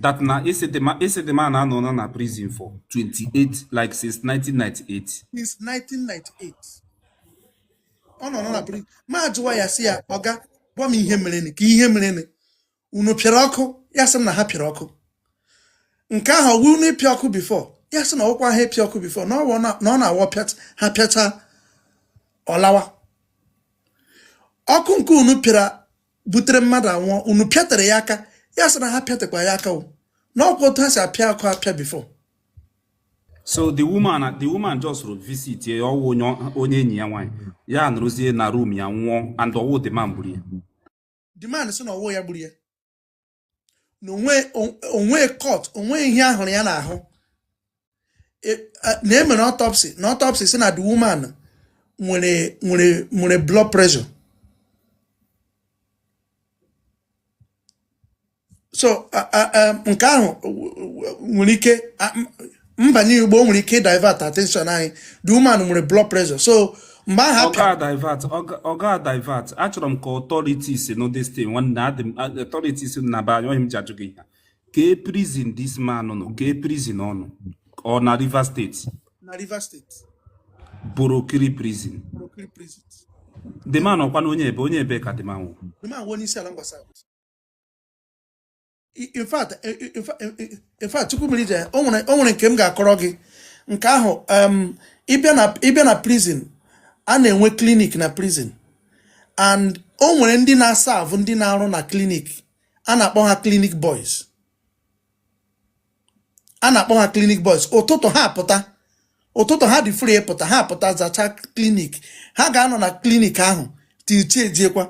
that na ị sị the man ị sị the man anọọna na prison for 28 like since 1998 since 1998 ọ nọ nọ na prison m ajụwa ya sị ya oga gwa m ihe mere nị ka ihe mere nị unu pịara ọkụ ya sị m na ha pịara ọkụ nke ahụ ọwụ unu ịpịa ọkụ before ya sị na ọkwa ha ịpịa ọkụ before na ọwụ na ọ na-awụ pịat- ha pịacha ọ lawa ọkụ nke unu pịara butere mmadụ anwụọ unu pịatere ya aka ya sị na ha pịatekwa ya aka o na ọkwa otu ha si apịa ọkụ apịa before so the woman the woman just rụ visit ya ọwụ onye enyi ya nwaanyị ya nọrọzie na room ya nwụọ and ọwụ the man gburu ya the man sị na ọwụ ya gburu ya na onwe cut onwe ihe ahụrụ ya n'ahụ e, na emere autopsy na autopsy sị na the woman nwere nwere nwere blood pressure so nke ahụ nwere ike m banye ugbu a o nwere ike divert attention anyị the woman nwere blood pressure so mgbe ahụ ọ ga divert ọ ga divert achọrọ m ka authorities know this thing nwanne adị m authorities na be anyị ọwụ ihe m ji ajụ gị ihe kee prison this man nọ kee prison ọ nọ ọ na Rivers State na Rivers State Borokiri prison Borokiri prison the man ọkwanụ onye ebee onye ebee ka the man wụ the man wụ onye Isiala Ngwa South in fact eh, eh, eh, in fact Chukwumerije o nwere o nwere nke m ga-akọrọ gị nke ahụ um, ịbịa na ịbịa na prison a na-enwe clinic na prison and o nwere ndị na-serve ndị na-arụ na clinic a na-akpọ ha clinic boys a na-akpọ ha clinic boys ụtụtụ ha pụta ụtụtụ ha dị free ịpụta ha pụta zacha clinic ha ga-anọ na clinic ahụ till chi ejiekwa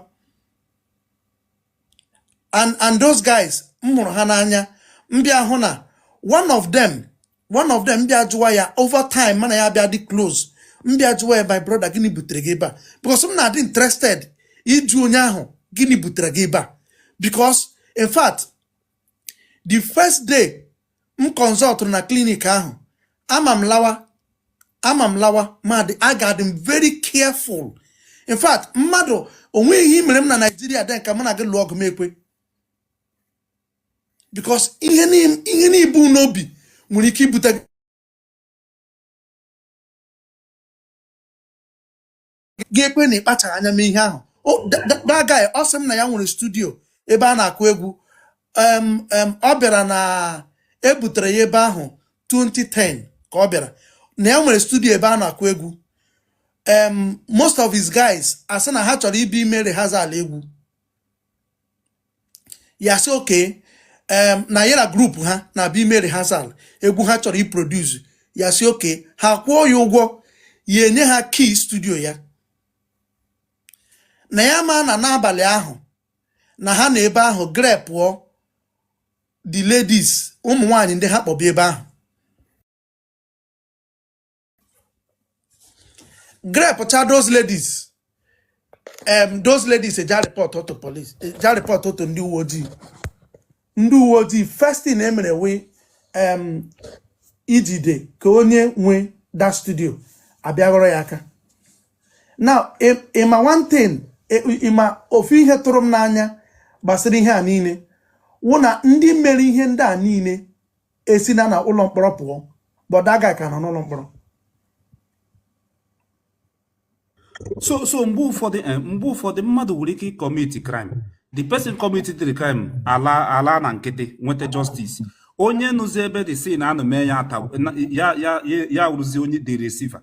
and and those guys m hụrụ ha n'anya m bịa hụ na one of them one of them m bịa jụwa ya over time m na ya bịa dị close m bịa jụwa ya my brother gịnị butere gị ebe a because m na-adị interested ịjụ onye ahụ gịnị butere gị ebe a because in fact the first day m consultrụ na clinic ahụ ama m lawa ama m lawa ma dị aga-adị m very careful in fact mmadụ onwe ihe i mere m na Nigeria then ka m na gị lụọ ọgụ m ekwe because ihe n'ibu n'obi nwere ike ibute ga-ekwe na ịkpachara anya mee ihe ahụ that guy ọ sị m na ya nwere studio ebe a na-akụ egwu ọ bịara na ebutere ya ebe ahụ 2010 ka ọ bịara na ya nwere studio ebe a na-akụ egwu most of his guys asị na ha chọrọ ịbịa ime rehearsal egwu ya sị okay na ya na group ha na-abịa ime rehearsal egwu ha chọrọ iproduce ya sị okay ha kwụọ ya ụgwọ ya enye ha key studio ya na ya ma na n'abalị ahụ na ha na ebe ahụ grepụọ the ladies ụmụ nwanyị ndị ha kpọbụ ebe ahụ grepcha those ladies um, those ladies eja report to police eja report to ndị uwe ojii ndị uwe ojii first thing e mere wụ um, ijide ka onye nwe that studio a bịa ghọrọ ya aka now ị ma one thing ị ma ofu ihe tụrụ m n'anya gbasara ihe a niile wụ na ndị mere ihe ndị a niile esina na ụlọ mkpọrọ pụọ but that guy ka nọ n'ụlọ mkpọrọ so so mgbe ụfọdụ eh, mgbe ụfọdụ mmadụ nwere ike icommit crime the person committed the crime ala ala na nkịtị nweta justice onye nọzi ebe the scene a nọ mee ya ata ya ya ya wụrụzi onye the receiver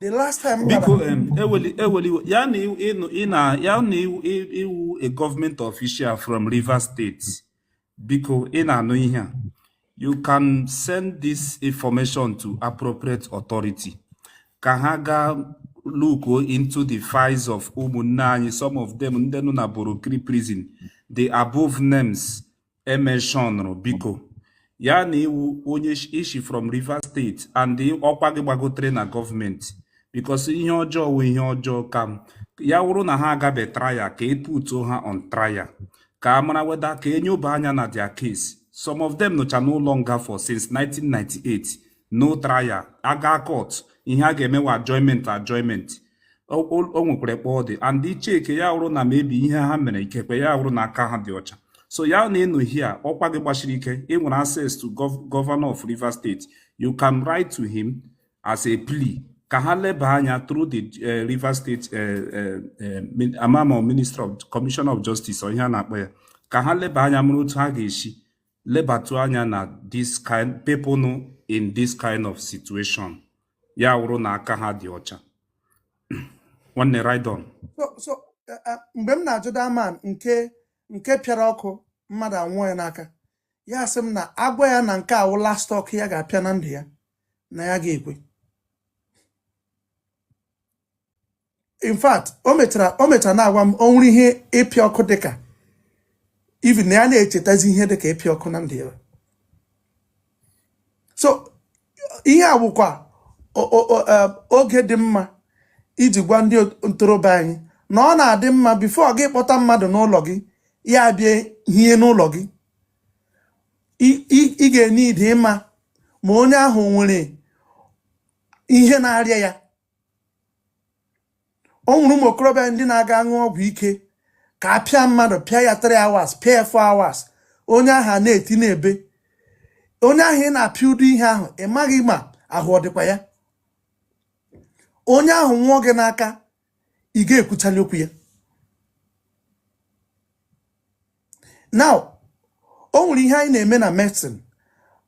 the last time biko eweli eweli ya na ị nụ ị na ya na ị wụ a government official from Rivers State biko ị na-anụ ihe a you can send this information to appropriate authority ka ha gaa look into the files of ụmụnna anyị some of them ndị nọ na Borokiri prison the above names e mentionụrụ biko ya na ị wụ onye ishi from Rivers State and ọkwa gị gbagotere na gọọmenti because ihe ọjọọ wụ ihe ọjọọ ka ya wụrụ na ha agabe trial ka e putuo ha on trial ka a mara whether ka e nyoba anya na their case some of them nọcha n'ụlọ nga for since 1998 no trial a gaa court ihe a ga-eme wụ adjournment adjournment o nwekwara kpa ọ dị and i chee ka ya wụrụ na maybe ihe ha mere ikekwe ya wụrụ na aka ha dị ọcha so ya na ị nọ here ọkwa gị gbachiri ike ị nwere access to governor of Rivers State you can write to him as a plea ka ha leba anya through the eh, Rivers State eh, eh, amamo minister of commissioner of justice or ihe a na-akpọ ya ka ha leba anya mara otu ha ga-eshi lebatụ anya na this kind people nọ in this kind of situation ya wụrụ na aka ha dị ọcha nwanne ride on so so eh, eh, mgbe m na-ajụ that man nke nke pịara ọkụ mmadụ anwụọ ya n'aka ya sị m na agwa ya na nke a wụ last ọkụ ya ga-apịa na ndụ ya na ya ga-ekwe in fact o mechara o mechara na-agwa m o nwere ihe ịpịa ọkụ dịka even na ya na-echetazi ihe dịka ịpịa ọkụ na ndụ ya so ihe a bụkwa eh, oge dị mma iji gwa ndị ntorobịa anyị na ọ na-adị mma before gị kpọta mmadụ n'ụlọ gị ya bịa hie n'ụlọ gị ị ga-need ịma ma onye ahụ nwere ihe na-arịa ya o nwere ụmụ okorobịa ndị na-aga aṅụ ọgwụ ike ka a pịa mmadụ pịa ya 3 hours pịa ya 4 hours onye ahụ a na-eti na-ebe onye ahụ ị na-apịa ụdị ihe ahụ ị maghị ma ahụ ọ dịkwa ya onye ahụ nwụọ gị n'aka ị ga-ekwuchali okwu ya now o nwere ihe anyị na-eme na medicine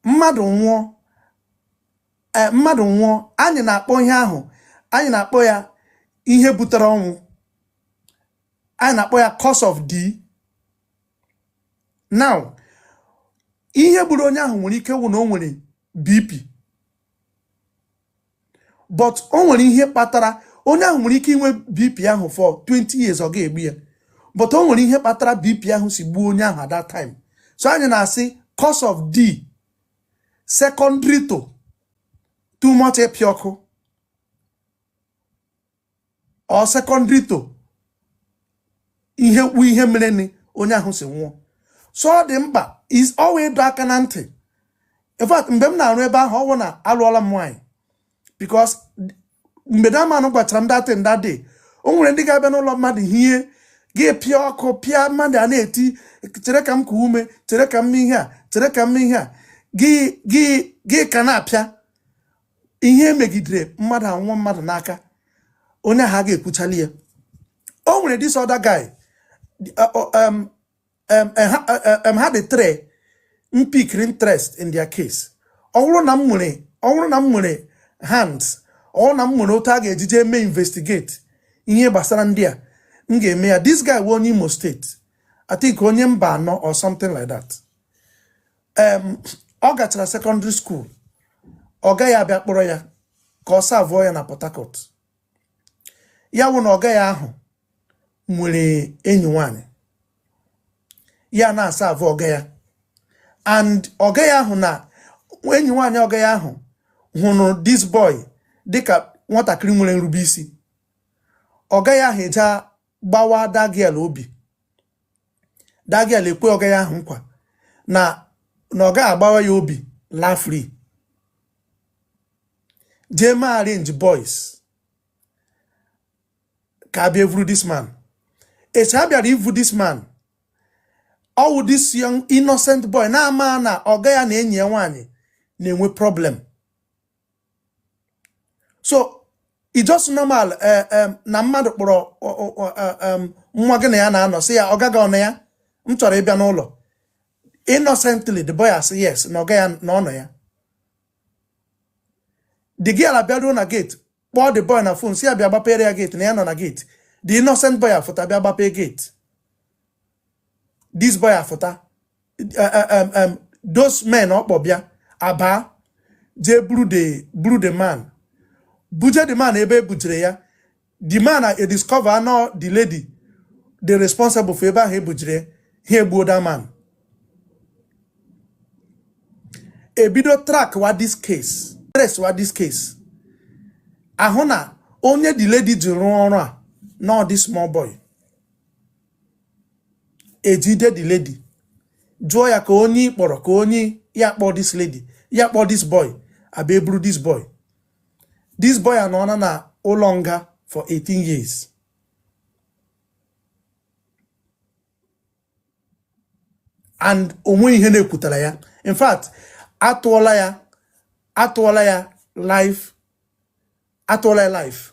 mmadụ nwụọ eh, mmadụ nwụọ anyị na-akpọ ihe ahụ anyị na-akpọ ya ihe butere ọnwụ anyị na-akpọ ya cause of death now ihe gburu onye ahụ nwere ike wụ na o nwere BP but o nwere ihe kpatara onye ahụ nwere ike inwe bp ahụ for 20 years ọ ga-egbu ya but o nwere ihe kpatara bp ahụ si gbuo onye ahụ at that time so anyị na-asị cause of death secondary to too much ịpịa ọkụ or secondary to ihe kpu ihe mere ni onye ahụ si nwụọ so ọ dị mkpa is always ịdọ aka na ntị in fact mgbe m na-arụ ebe ahụ ọ wụ na alụọla m nwaanyị because mgbe that man gwachara m that thing that day o nwere ndị ga-abịa n'ụlọ mmadụ hie gị pịa ọkụ pịa mmadụ a na-eti chere ka m kuo ume chere ka m ihe a chere ka m ihe a gị gị gị ka na-apịa ihe emegidere mmadụ anwụọ mmadụ n'aka onye ahụ a ga-ekwuchali ya o nwere this other guy ha dị three m pikiri interest in their case ọ bụrụ na m nwere ọ bụrụ na m nwere hand ọ bụrụ na m nwere otu a ga-ejije eme investigate ihe gbasara ndị a m ga-eme ya this guy wụ onye Imo State I think onye Mbano or something like that em ọ gachara secondary school ọga ya abịa kpọrọ ya ka ọ savụọ ya na Port Harcourt ya wụ na ọga ya ahụ nwere enyi nwanyị ya na-asavụ ọga ya and ọga ya ahụ na enyi nwanyị ọga ya ahụ hụrụ this boy dịka nwatakịrị nwere nrube isi ọga ya ahụ eje gbawa that girl obi that girl ekwe ọga ya ahụ nkwa na na ọ gaghị agbawa ya obi laa free jee ma arrange boys ka a bịa evuru this man echi a bịara ivu this man ọ wụ this young innocent boy na-ama na ọga ya na enyi ya nwaanyị na-enwe problem so it's just normal eh, eh, na mmadụ kpọrọ eh, nwa gị na ya na-anọ sị ya ọga gị ọ nọ ya m chọrọ ịbịa n'ụlọ innocently the boy asị yes na ọga ya na ọ nọ ya the girl abịaruo na gate kpọọ the boy na phone sị ya bịa gbapere ya gate na ya nọ na gate the innocent boy afụta bịa gbapee gate this boy afụta eh, those men ọ kpọ bịa abaa jee buru the buru the man buje the man ebe e bujere ya the man adiscover na ọ the lady dị responsible for ebe ahụ e bujere ha egbuo that man e bido track wa this case trace wa this case a hụ na onye the lady ji rụọ ọrụ a na ọ this small boy e jide the lady jụọ ya ka onye kpọrọ ka onye ya kpọọ this lady ya kpọọ this boy a bịa eburu this boy this boy anọọla na ụlọ nga for 18 years and o nwe ihe na-ekwutara ya in fact atụọla ya atụọla ya life atụọla ya life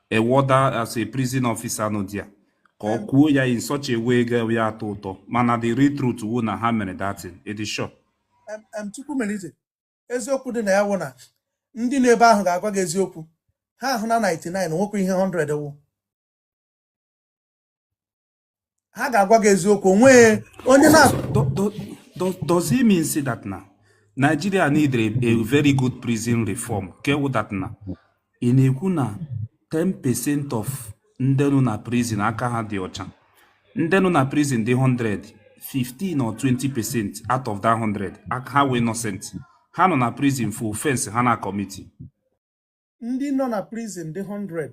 a warder as a prison officer nọ there ka ọ kwuo ya in such a way ga ya atọ ụtọ mana the real truth wụ na ha mere that thing it is sure Em- em, Chukwumerije eziokwu dị na ya wụ na ndị nọ ebe ahụ ga-agwa gị eziokwu ha ahụ na 99 nwekwa ihe 100 wụ ha ga-agwa gị eziokwu o nwe onye na does it mean say that na Nigeria need a, a very good prison reform ke wụ that na ị na-ekwu na 10 percent of ndị nọ na prison aka ha dị ọcha ndị nọ na prison dị 100 15 or 20 percent out of that 100 aka ha were innocent ha nọ na prison for offense ha na-acommit ndị nọ na prison dị 100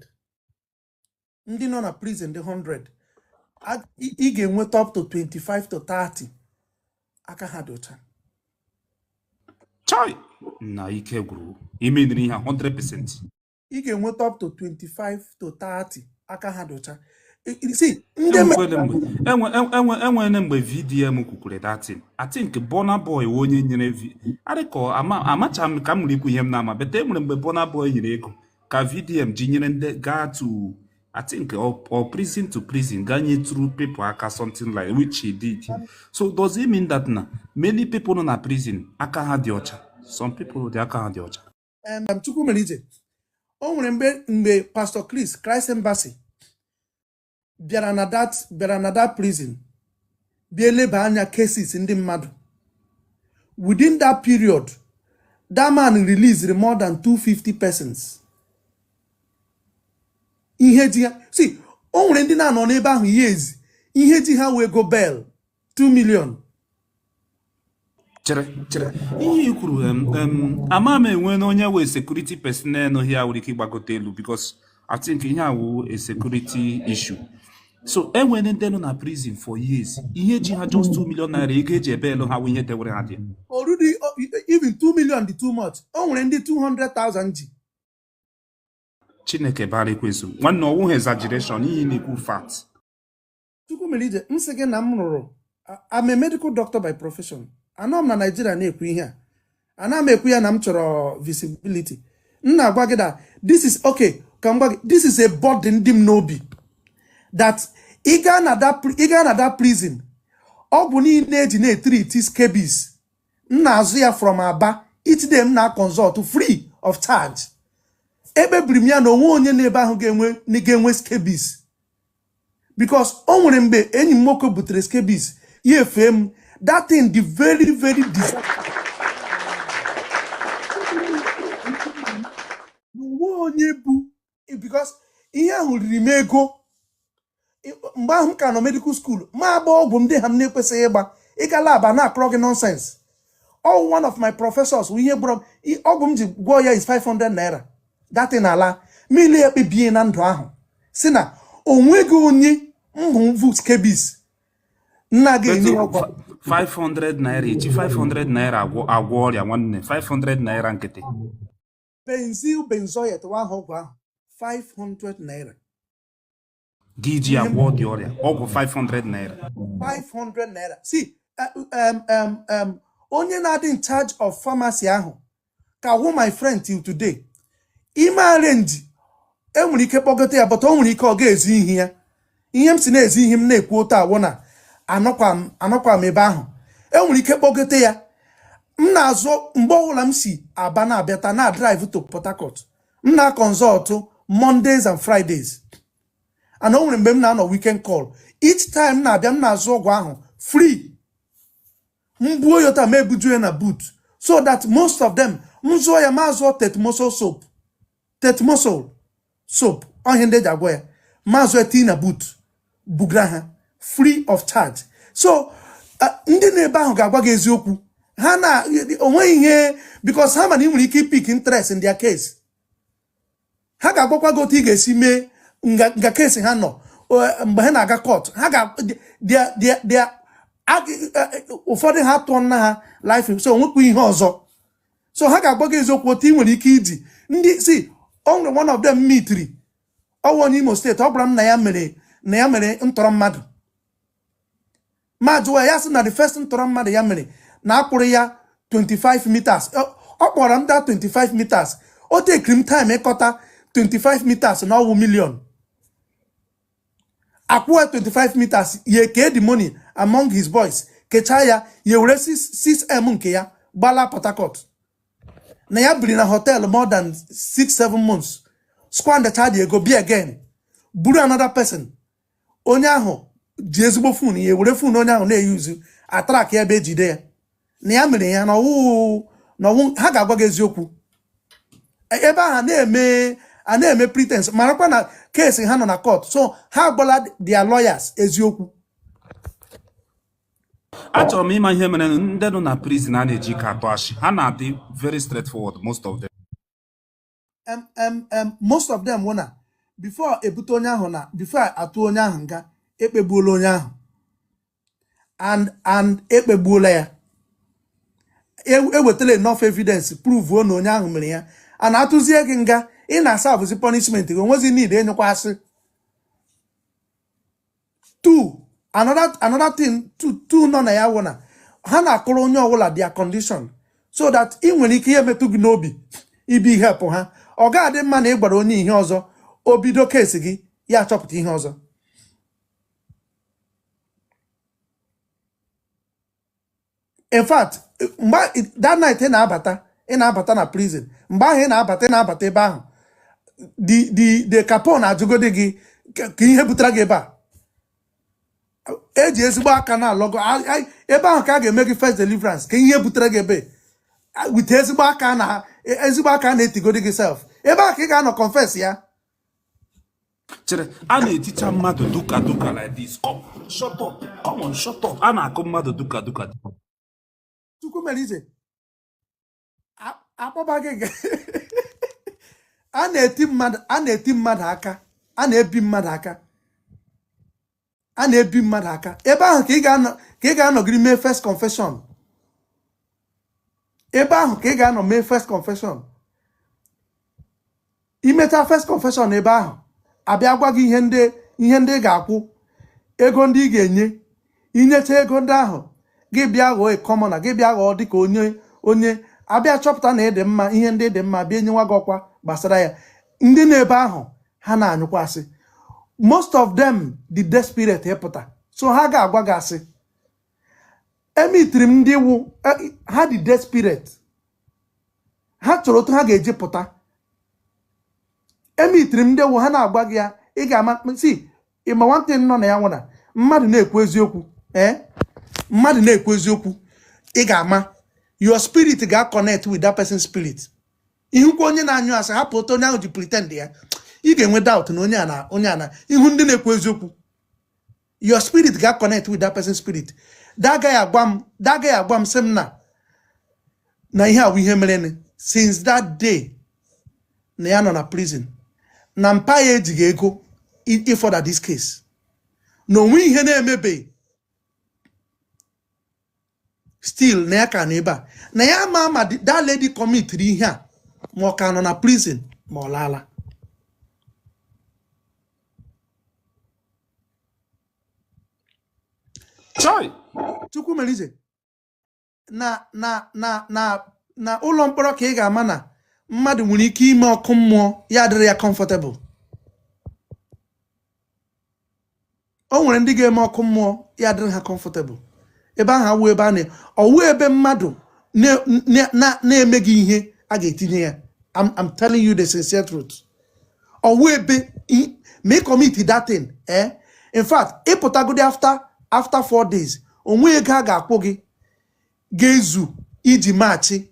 ndị nọ na prison dị 100 a- ị ị ga-enweta up to 25 to 30 aka ha dị ọcha chai na ike gwụrụ ime ndị ihe a 100% ị ga-enweta up to 25 to 30 aka ha dị ọcha I- i- see ndị enwekwele mere mgbe enwe enwe enwe enwele mgbe VDM kwukwere that thing I think Burna Boy wụ onye nyere vi adịkọ ama amacha m ka m nwere ikwu ihe m na-ama but e nwere mgbe Burna Boy nyere ego ka VDM ji nyere ndị gaa to I think or, or prison to prison gaa nyetụrụ people aka something like which he did. So does it mean that na many people nọ na prison aka ha dị ọcha? Some people dị aka ha dị ọcha. Um, Chukwumerije o nwere mgbe Pastor Chris Christ Embassy bịara na that prison bịa eleba anya cases ndị mmadụ within that period that man released more than 250 persons ihe ji ha see o nwere ndị na-anọ n'ebe ahụ years ihe ji ha wụ ego bail 2 million chere chere ihe i kwuru ama m enwe na onye wụ security personnel nọ here nwere ike ịgbagote elu because I think ihe a wụ a security issue so enwere ndị nọ na prison for years ihe ji ha just 2 million naira ego eji e-bail ha wụ ihe dewere ha there already even 2 million dị too much o nwere ndị 200,000 ji chineke bara ekwensu nwanne ọwụghị exaggeration ihe na-ekwu fact Chukwumerije m sị gị na m rụrụ I'm a medical doctor by profession anọ m na Naịjirịa na-ekwu ihe a ana m ekwu ya na m chọrọ visibility m na-agwa gị that this is okay ka m gwa gị this is a burden dị m n'obi that ị gaa na that prison ọgwụ niile eji na-etreat scabies m na-azụ ya from Aba each day m na-aconsult free of charge ekpebiri m ya na onwe onye n'ebe ahụ ga-enwe scabies because o nwere mgbe enyi m nwoke butere scabies ya efee m that thing dị very very dis- onwe onye bụ because ihe ahụ riri m ego mgbe ahụ m ka nọ medical school ma agba ọgwụ ndị ha m na-ekwesịghị ịgba ịga lab a na-akọrọ gị nonsense all one of my professors wụ ihe gbọrọ m i- ọgwụ m ji gwọọ ya is 500 naira that thing ala mmiri ekpebie na ndụ ahụ sị na onweghị onye m hụ vu scabies m na-aga-enye ọgwụ 500 naira eji 500 naira agwọ ọrịa nwanne 500 naira nkịtị benzyl benzoate nwa ahụ ọgwụ ahụ 500 naira gị ji ya gwọọ the ọrịa ọgwụ 500 naira 500 naira see eh, um, um, um, onye na-adị in charge of pharmacy ahụ ka wụ my friend till today i mee arrange enwere ike kpọgote ya but o nwere ike ọ ga-ezi ihu ya ihe m si na-ezi ihu m na-ekwu otu a wụ na anọkwa m ebe ahụ enwere ike kpọgote ya m na-azụ mgbe ọbụla m si aba na-abịata na-adrive to Port Harcourt m na-akọnsọltụ Mondays and Fridays and o nwere mgbe m na-anọ weekend call each time m na-abịa m na-azụ ọgwụ ahụ free m buo yọta m ebuju ya na boot so that most of them m zụọ ya ma zụọ tetmosol soap tetmosol soap ọ ihe ndị eji agwọ ya ma zụọ tii na boot bugara ha free of charge so ndị nọ ebe ahụ ga-agwa gị eziokwu ha na onweghị ihe because ha ma na ị nwere ike ipick interest in their case ha ga-agwakwa gị otu ị ga-esi mee nga case ha nọ mgbe ha na-aga court ha ga ụfọdụ ha atụọla ha life so onwekwa ihe ọzọ so ha ga-agwa gị eziokwu otu ị nwere ike iji ndị si o nwere one of them m meetiri ọwụ onye Imo State ọ gwara m na ya mere na ya mere ntọrọ mmadụ m ajụwa ya sị na the first ntọrọ mmadụ ya mere na akwụrụ ya 25 meters ọ kpọrọ m daa 25 meters o tekiri m time ịkọta 25 meters na ọwụ million akwụọ ya 25 meters ya kee the money among his boys kechaa ya ya were 6m nke ya gbala Port Harcourt na ya biri na hotel more than 6-7 months squandacha the ego bịa again buru another person onye ahụ ji ezigbo phone ya were phone onye ahụ na-eyuzu atrack ya ebe ejide ya na ya mere ya na ọwụ na ọwụ ha ga-agwa gị eziokwu E- ebe ahụ a na-eme a na-eme pretense marakwa na case ha nọ na court so ha agwala their lawyers eziokwu achọrọ m ịma ihe mere ndị nọ na prison a na-eji ka atụ asị ha na-adị very straightforward most of them em em em most of them wụ na before ebute onye ahụ na before atụ onye ahụ nga ekpegbuola onye ahụ and and ekpegbuola ya E- ewetala enough evidence prove na onye ahụ mere ya and atụzie gị nga ị na-aserve bụzi punishment gị onwezi need ịnyụkwa asị two another another thing two two nọ na ya wụ na ha na-akọrọ onye ọbụla their condition so that ị nwere ike ihe metụ gị n'obi ị bịa helpụ ha ọ ga-adị mma na ị gwara onye ihe ọzọ o bido case gị ya achọpụta ihe ọzọ in fact mgbe that night ị na-abata ị na-abata na prison mgbe ahụ ị na-abata ị na-abata ebe ahụ the the the capon ajụgodi gị kee ihe butere gị ebe a eji ezigbo aka na-alọgọ ebe ahụ ka a ga-eme gị first deliverance kee ihe butere gị ebe a with ezigbo aka na ezigbo aka na-etigodi gị self ebe ahụ ka ị ga-anọ confess ya chere a na-eticha mmadụ duka duka like this come shut up come on shut up a na-akụ mmadụ duka duka Chukwumerije akpọba gị a na-eti mmadụ a na-eti mmadụ aka a na-ebi mmadụ aka a na-ebi mmadụ aka ebe ahụ ka ị ga-anọgiri mee first confession ebe ahụ ka ị ga-anọ mee first confession i mecha first confession ebe ahụ a bịa gwa gị ihe ndị ihe ndị ị ga-akwụ ego ndị ị ga-enye i nyecha ego ndị ahụ gị bịa ghọọ a commoner gị bịa ghọọ dịka onye onye a bịa chọpụta na ị dị mma ihe ndị dị mma bịa enyewa gị ọkwa gbasara ya ndị nọ ebe ahụ ha na-anyụkwa asị most of them dị desperate ịpụta so ha ga-agwa gị asị emitiri m ndị wụ e, ha dị desperate ha chọrọ otu ha ga-eji pụta emitiri m ndị wụ ha na-agwa gị ya ị ga-ama si ịma nwantị nọ na ya nwụna mmadụ na-ekwu eziokwu ee eh? mmadụ na-ekwu eziokwu ị ga-ama your spirit ga-connect with that person's spirit ị hụkwa onye na-anyụ asị hapụ otu onye ahụ ji pretend ya ị ga-enwe doubt na onye ana onye ana ị hụ ndị na-ekwu eziokwu your spirit ga-connect with that person's spirit that guy agwa m that guy agwa m sị m na na ihe a wụ ihe mere since that day na ya nọ na prison na mpa ya ejighị ego ị-further this case na onwe ihe na-emebe still na ya ka nọ ebe a na ya ma ma that lady committed ihe a ma ọ ka nọ na prison ma ọ laala Chai. Chukwumerije. na na na na na ụlọ mkpọrọ ka ị ga-ama na mmadụ nwere ike ime ọkụ mmụọ ya adịrị ya comfortable o nwere ndị ga-eme ọkụ mmụọ ya adịrị ha comfortable ebe ahụ awụ ebe a na ọ wụ ebe mmadụ na-emeghị ihe a ga-etinye ya I'm telling you the sincere truth ọ wụ ebe ma ị commit that thing eh in fact ị pụtagodi after after four days onwe ego a ga-akwụ gị ga-ezu iji machi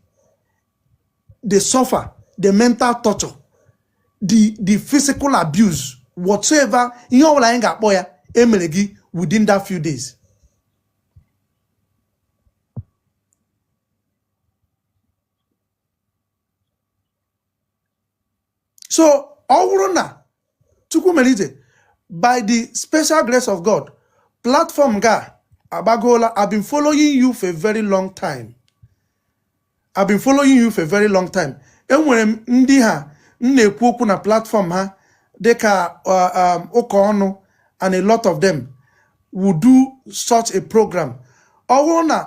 the suffer the mental torture the the physical abuse whatsoever ihe ọbụla anyị ga-akpọ ya emere gị within that few days so ọ wụrụ na chukwumerije by the special grace of god platform gị agbagoola i've been following you for a very long time i've been following you for a very long time enwere ndị ha m na-ekwu okwu na platform ha dịka uh, um, ụka ọnụ and a lot of them would do such a program ọ wụrụ na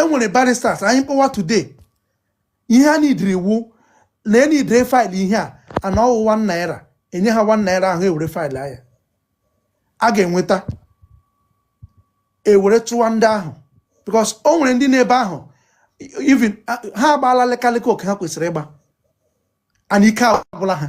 enwere barristers anyị kpọwa today ihe a nidiri wụ na enidiri faịlụ ihe a and ọwụ 1 naira enye ha 1 naira ahụ ewere faịlụọ ya a ga-enweta ewere chụwa ndị ahụ because o nwere ndị n'ebe ahụ even ha agbaala lekalịka oke ha kwesịrị ịgba and ike agwụla ha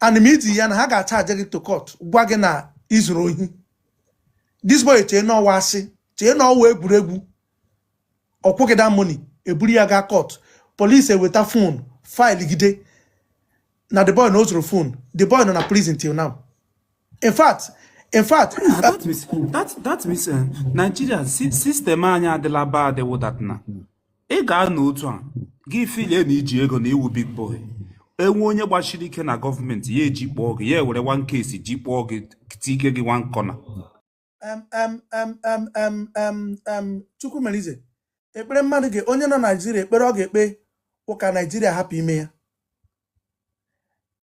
and ma iti ya na ha ga-achaje gị to court gwa gị na izuru ohi this boy chee n'ọwụ asị chee n'ọwụ egwuregwu ọkwụghị that money eburu ya gaa court police eweta fon faịlụ gide na the boy na o zuru fon the boy nọ na prison till now in fact in fact ah, that means that that means eh, Nigeria system anyị adịla bad wụ that na ị ga-anọ otu a gị filie na iji ego na ị wụ big boy enwe onye gbachiri ike na gọọmenti ya ejikpọọ gị ya ewere one case jikpọọ gị tike gị one corner chukwumerije ekpere mmadụ ga onye nọ naijiria ekpere ọ ga-ekpe wụ ka naijiria hapụ ime ya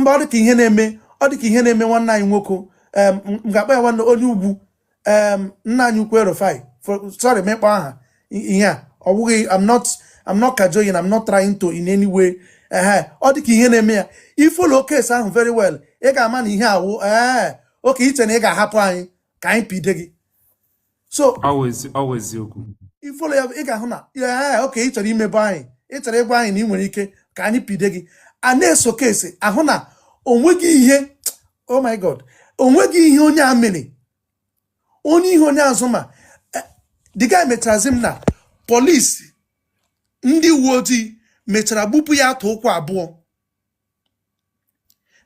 mba ọ dịka ihe na-eme ọ dịka ihe na-eme nwanne anyị nwoke m ga-akpọ ya nwanne onye ugwu nna anyị ukwu el-rufai sorry m ịkpọ aha ya ọ bụghị I'm not I'm not cajoling I'm not trying to in any way ehe ọ dịka ihe na-eme ya i folo case ahụ very well ị ga-ama na ihe a wụ ee okay i che na ị ga-ahapụ anyị ka anyị pide gị so ọwụ eziokwu i folo ya ị ga-ahụ na ya okay ị chọrọ imebọ anyị ị chọrọ ịgwa anyị na ị nwere ike ka anyị pide gị a na-eso case ahụ na onweghị ihe oh my god onweghị ihe onye a mere onwe ihe onye a zu ma eh, the guy mecharazi m na polisi ndị uwe ojii mechara gbupụ ya atụ ụkwụ abụọ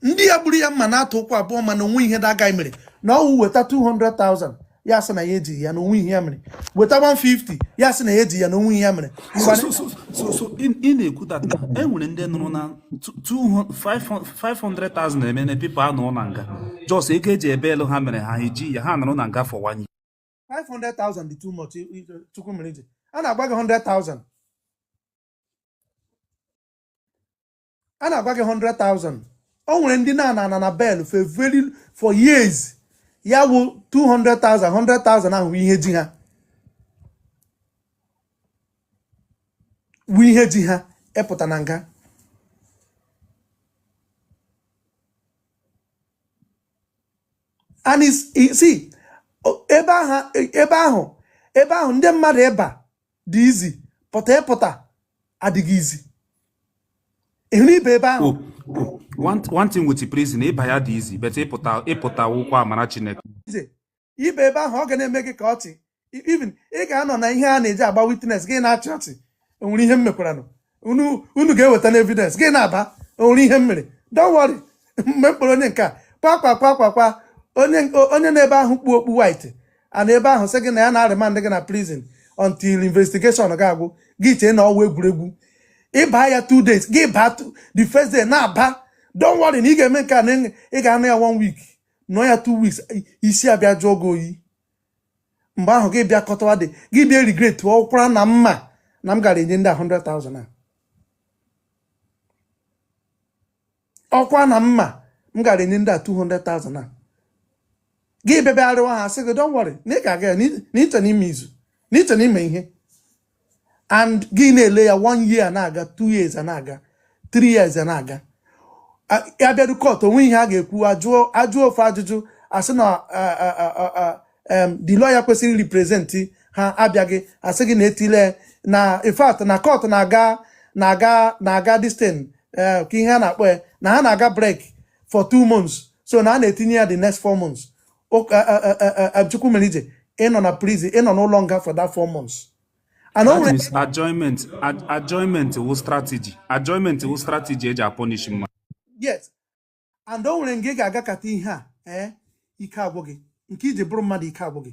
ndị ya gburu ya mma na atụ ụkwụ abụọ mana onwe ihe the guy mere na ọwụ weta 200,000 ya sị na ya ejighị ya na onwe ihe ya mere weta 150 ya sị na ya ejighị ya na onwe ihe ya mere ị na-ekwu that e nwere ndị nọrọ na 500,000 eme na people anọrọ na nga just ego eji ebeelụ ha mere ha eji ya ha nọrọ na nga for one year 500,000 dị too much chukwumerije a na-agba gị 100,000 a na-agwa gị 100,000 o nwere ndị na-ana ana na bail for very for years ya wụ 200,000 100,000 ahụ ihe ji ha wụ ihe ji ha ịpụta na nga and see ebe ahụ ebe ahụ ebe ahụ ndị mmadụ ịba dị easy but ịpụta adịghị easy ịhụrụ ịba ebe ahụ one thing with prison ịba ya dị easy but ịpụta ịpụta wụkwa amara Chineke ị baa ebe ahụ ọ ga na-eme gị ka ọchị even ị ga-anọ na ihe a na-eji agba witness gị na-achị ọchị e nwere ihe m mekwaranụ unu unu ga-eweta na evidence gị na-aba o nwere ihe m mere don't worry mgbe m kpọrọ onye nke a kwa kwa kwa kwa kwa onye o- onye nọ ebe ahụ kpu okpu white a nọ ebe ahụ sị gị na ya na-aremand gị na prison until investigation ga-agwụ gị chee na ọ wụ egwuregwu ị baa ya two days gị baa two- the first day na-aba don't worry na ị ga-eme nke a na ị ga-anọ ya one week nọ ya two weeks isi abịa jụọ gị oyi mgbe ahụ gị bịa kọtawa dị gị bịa regret ọkwara na m ma na m gara enye ndị a 100,000 a ọkwara na m ma m gara enye ndị a 200,000 a gị bịa bịa arịọwa ha sị gị don't worry na ị ga-aga ya n'iche n'ime izu n'iche n'ime ihe and gị na-ele ya one year na-aga two years na-aga three years na-aga a bịaru court o nwe ihe a ga-ekwu ajụọ ajụọ ofu ajụjụ a sị na a- a- a- a- a- em, the lawyer kwesịrị represent ha abịaghị a sị gị na etile na in fact na court na-aga na-aga na-aga this thing eh, ka ihe a na-akpọ ya na ha na-aga break for two months so na a na-etinye ya the next four months Chukwu mere ije ịnọ na prison ịnọ n'ụlọ nga for that four months and o nwere adjournment adjournment wụ strategy adjournment wụ strategy e ji apunish mmadụ yes and o nwere nga ị ga-agakata ihe a ee eh, ike agwụ gị nke i ji bụrụ mmadụ ike agwụ gị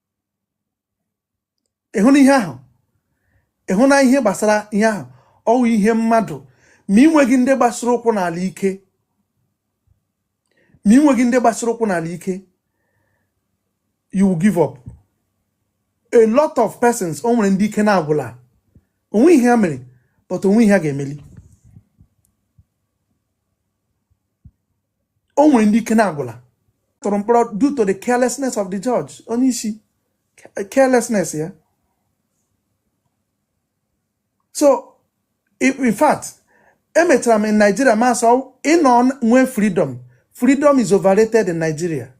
ịhụ na ihe ahụ ịhụ na ihe gbasara ihe ahụ ọ wụ ihe mmadụ ma ị ma ị nweghị ndị gbasara ụkwụ n'ala ike you will give up a lot of persons o nwere ndị ike na-agwụla o nwe ihe ha mere but o nwe ihe ha ga-emeli o nwere ndị ike na-agwụla tụrụ mkpọrọ due to the carelessness of the judge onye isi carelessness ya so in fact emechara m in Nigeria ma sọ ịnọ nwee freedom freedom is overrated in Nigeria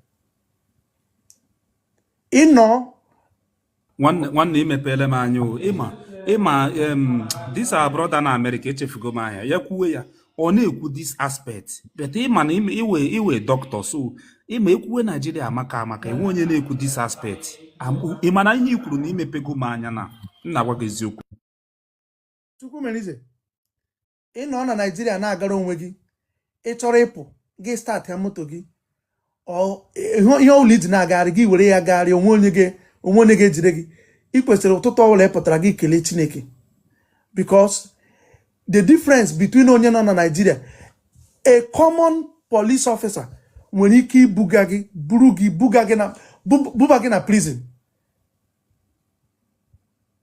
ịnọ nwanne imepele m anya o ịma ịma this our brother na America echefugo m aha ya kwuwe ya ọ na-ekwu this aspect but ịma na ị wụ ị wụ doctor so ịma ekwuwe Naijiria amaka amaka enwe onye na-ekwu this aspect ịma na ihe i kwuru now imepego m anya na m na-agwa gị eziokwu ị nọ na naijiria na-agara onwe gị ị chọrọ ịpụ gị startịa moto gị ihe ọbụla i ji na-agagharị gị were ya gagharị o nwe onye ga-ejide gị ị kwesịrị ụtụtụ ọbụla ị pụtara gị kelee chineke because the difference between onye nọ na naijiria a common police officer nwere ike ibuga gị buru gị buga gị na buba gị na prison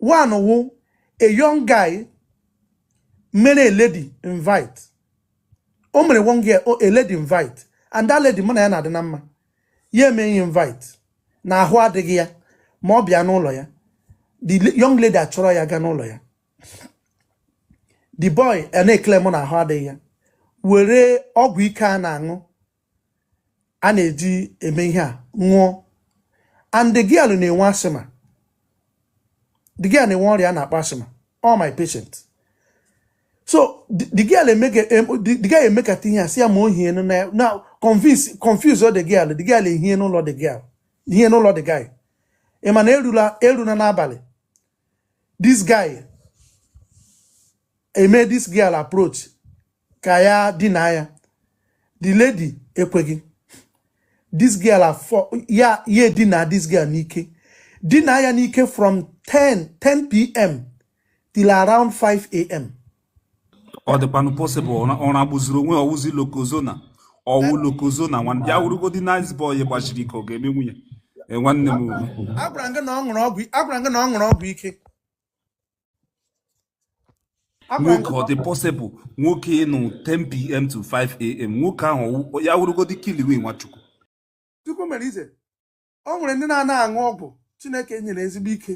one wụ a young guy mere a lady invite o mere one girl o- a lady invite and that lady mụ na ya na-adị na mma ya emee ya invite na ahụ adịghị ya ma ọ bịa n'ụlọ ya the la- young lady achọrọ ya gaa n'ụlọ ya the boy a na-eclaim na ahụ adịghị ya were ọgwụ ike a na-aṅụ a na-eji eme ihe a ṅụọ and the girl na-enwe asthma the girl na-enwe ọrịa a na-akpọ asthma ọ wụ my patient so the girl emekata ihe a sị ya ma o hie na confuse confuse the girl the girl ehie n'ụlọ the girl ehie n'ụlọ the guy ị ma na erula erula n'abalị this guy emee this girl approach ka ya dina ya the lady ekweghị this girl aforce ya ya edina this girl n'ike dina ya n'ike from 10 10 pm till around 5 am ọ dịkwanụ possible ọ na-egbuziri onwe ya ọ wụzi lokozona ọ wụ lokozona nwanne ya wụrụgodi nice boy gbasiri ike ọ ga-emenwu ya e, nwanne m agwara gị na ọ ṅụrụ ọgwụ ike nwoke ọ dị possible nwoke ịnụ 10pm to 5am nwoke ahụ ya wụrụgodi kiliwe nwachukwu chukwumerije o nwere ndị na-ana aṅụ ọgwụ chineke nyere ezigbo ike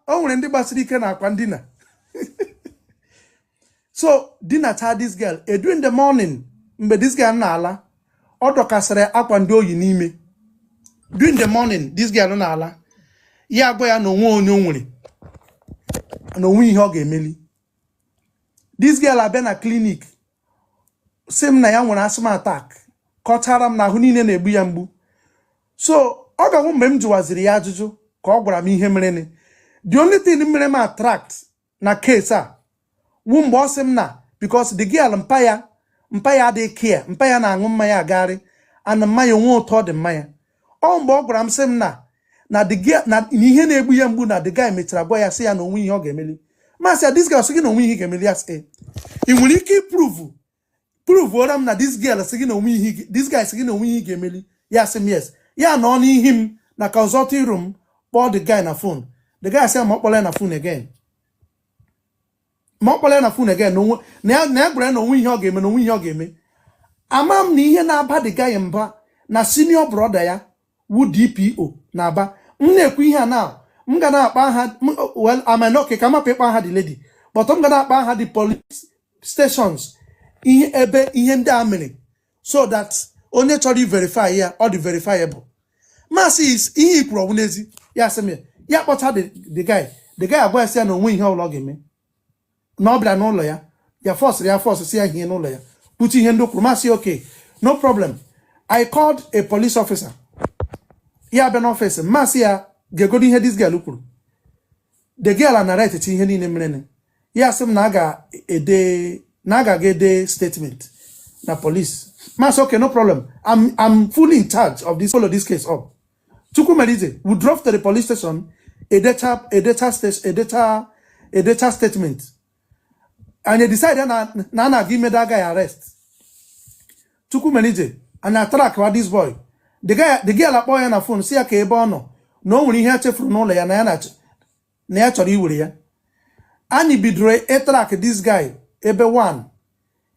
o nwere ndị gbasiri ike na akwa ndina so dinacha this girl early in the morning mgbe this girl na-ala ọ dọkasịrị akwa ndị o yi n'ime during the morning this girl na-ala ya agwa ya na o nwe onye o nwere na o nwe ihe ọ ga-emeli this girl abịa na clinic sị m na ya nwere asthma attack kọchara m na ahụ niile na-egbu ya mgbu so ọ ga-awụ mgbe m jụwaziri ya ajụjụ ka ọ gwara m ihe mere the only thing mere m attract na case a wu mgbe ọ sị m na because the girl mpa ya mpa ya adịghị care mpa ya na-aṅụ mmanya agagharị aṅụ mmanya onwe ụtọ ọ dị mmanya ọ wụ mgbe ọ gwara m sị m na na the girl na na ihe na-egbu ya mgbu na the guy mechara gwa ya sị ya na onwe ihe ọ ga-emeli m asị ya this guy sị gị na onwe ihe ị ga-emeli ya sị ị nwere ike iprove pruvuora m na this girl sị gị na onwe ihe this guy sị gị na onwe ihe ga-emeli ya sị m yes ya nọ n'ihu m na consulting room kpọọ the guy na phone the guy sị ma ọ kpọla ya na phone again ma ọ kpọla ya na phone again na ya gwara ya na onwe ihe ọ ga-eme na onwe ihe ọ ga-eme ama m na ihe na-aba the guy mba na senior brother ya wu DPO na Aba m na-ekwu ihe a na m ga na-akpa aha well I might not ka m hapụ ịkpa aha the lady but m ga na-akpa aha the police stations ihe ebe ihe ndị a mere so that onye chọrọ iverify ya ọ dị verifiable m asị ihe i kwuru ọ wụ n'ezi ya sị m ya kpọta the guy the guy agwa ya sị ya na onwe ihe ọbụla ọ ga-eme na ọ bịara n'ụlọ ya ya fọsịrị ya fọsị sị ya hie n'ụlọ ya kwuchaa ihe ndị kwuru m asị okay no problem i called a police officer ya bịa n'ọfịs m asị ya gegodo ihe this girl kwuru the girl anarratechaa ihe niile merenụ ya sị m na a ga-ede na a ga-aga ede statement na police m asị okay no problem i'm i'm fully in charge of this follow this case up Chukwumerije, we drove to the police station, edechaa statement. Anyị edecide na a na-aga ime the guy arrest. Chukwumerije, anyị atrackwa this boy. The guy, the girl akpọ ya na phone, sị ya ka ebe ọ nọ, na o nwere ihe a chefuru n'ụlọ ya na ya na ya chọrọ iwere ya. Anyị bidoro itrack this guy ebe 1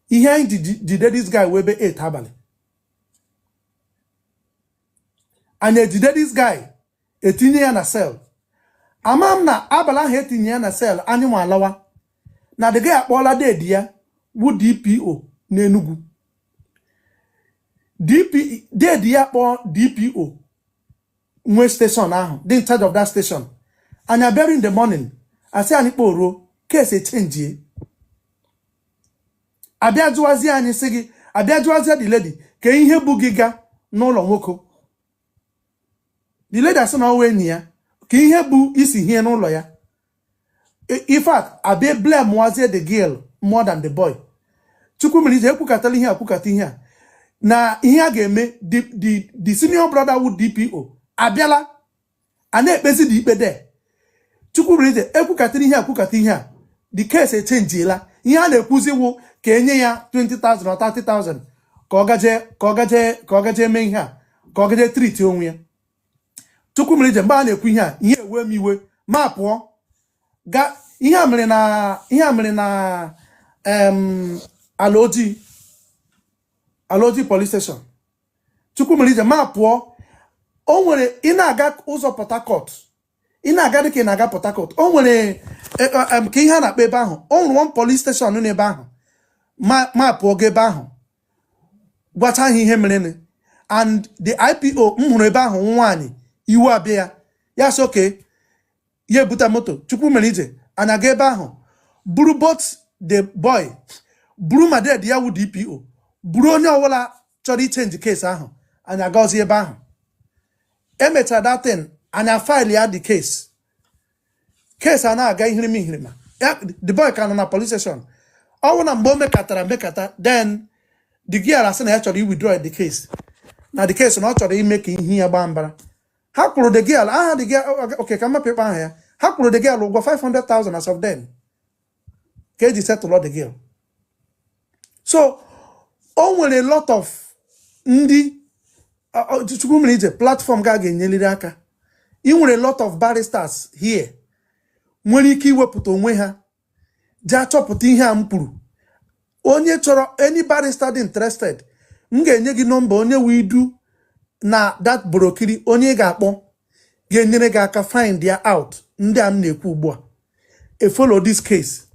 ihe anyị jide this guy wụ ebe 8 abalị anyị ejide this guy etinye ya na cell ama m na abalị ahụ etinye ya na cell anyị nwa alawa na the guy akpọọla deede ya wu DPO n'enugwu deede ya kpọọ DPO nwe station ahụ dị in charge of that station anyị abịara in the morning asị anyị kpọruo case echenjie abịa jụwazie anyị sị gị abịa jụwazie the lady ka ihe bu gị ga n'ụlọ nwoke the lady asị na ọ wụ enyi ya ka ihe bụ isi hie n'ụlọ ya in fact abịa blamewazie the girl more than the boy Chukwumerije ekwukatala ihe a kwukata ihe a na ihe a ga-eme the senior brother wu DPO abịala a na-ekpezinụ ikpe de chukwumerije e kwukatara ihe a kwukata ihe a the case echenjiela ihe a na-ekwuzi wụ ka e nye ya 20,000 or 30,000 ka ọ gaje ka ọ gaje ka ọ gaje mee ihe a ka ọ gaje treat onwe ya chukwumerije mgbe a na-ekwu ihe a ihe ewe m iwe m apụọ ga ihe a mere na ihe a mere na em, alaoji alaoji police station chukwumerije m apụọ o nwere ị na-aga ụzọ port harcourt ị na-aga dịka ị na-aga port harcourt o nwere e, e, em, ka ihe a na-akpọ ebe ahụ o nwere one police station nọ n'ebe ahụ ma m apụọ ga ebe ahụ gwacha ha ihe merenụ and the ipo m hụrụ ebe ahụ nwaanyị iwe abịa ya ya sị okay ya ebute moto chukwumerije anyị aga ebe ahụ buru both the boy buru ma dad ya wu dpo buru onye ọbụla chọrọ ichenji case ahụ anyị agazi ebe ahụ e mechara that thing anyị file ya the case case a na-aga ihirima ihirima the boy ka nọ na police station ọ wụ na mgbe o mekatara mekata then the girl asị na ya chọrọ iwithdraw the case na the case na ọ chọrọ ime ka ihe ya gbaa mbara ha kwụrụ the girl aha the girl okay ka m hapụ ịkpa aha ya ha kwụrụ the girl ụgwọ 500,000 as of then ka e ji settle the girl so o nwere lot of ndị chukwumerije platform ga ga-enyeliri aka i nwere lot of barristers here nwere ike iwepụta onwe ha ji achọpụta ihe a m kwuru onye chọrọ any barrister dị interested m ga-enye gị nọmba onye we du na that borokiri onye ị ga-akpọ ga-enyere gị aka find ya out ndị a m na-ekwu ugbu a efollow this case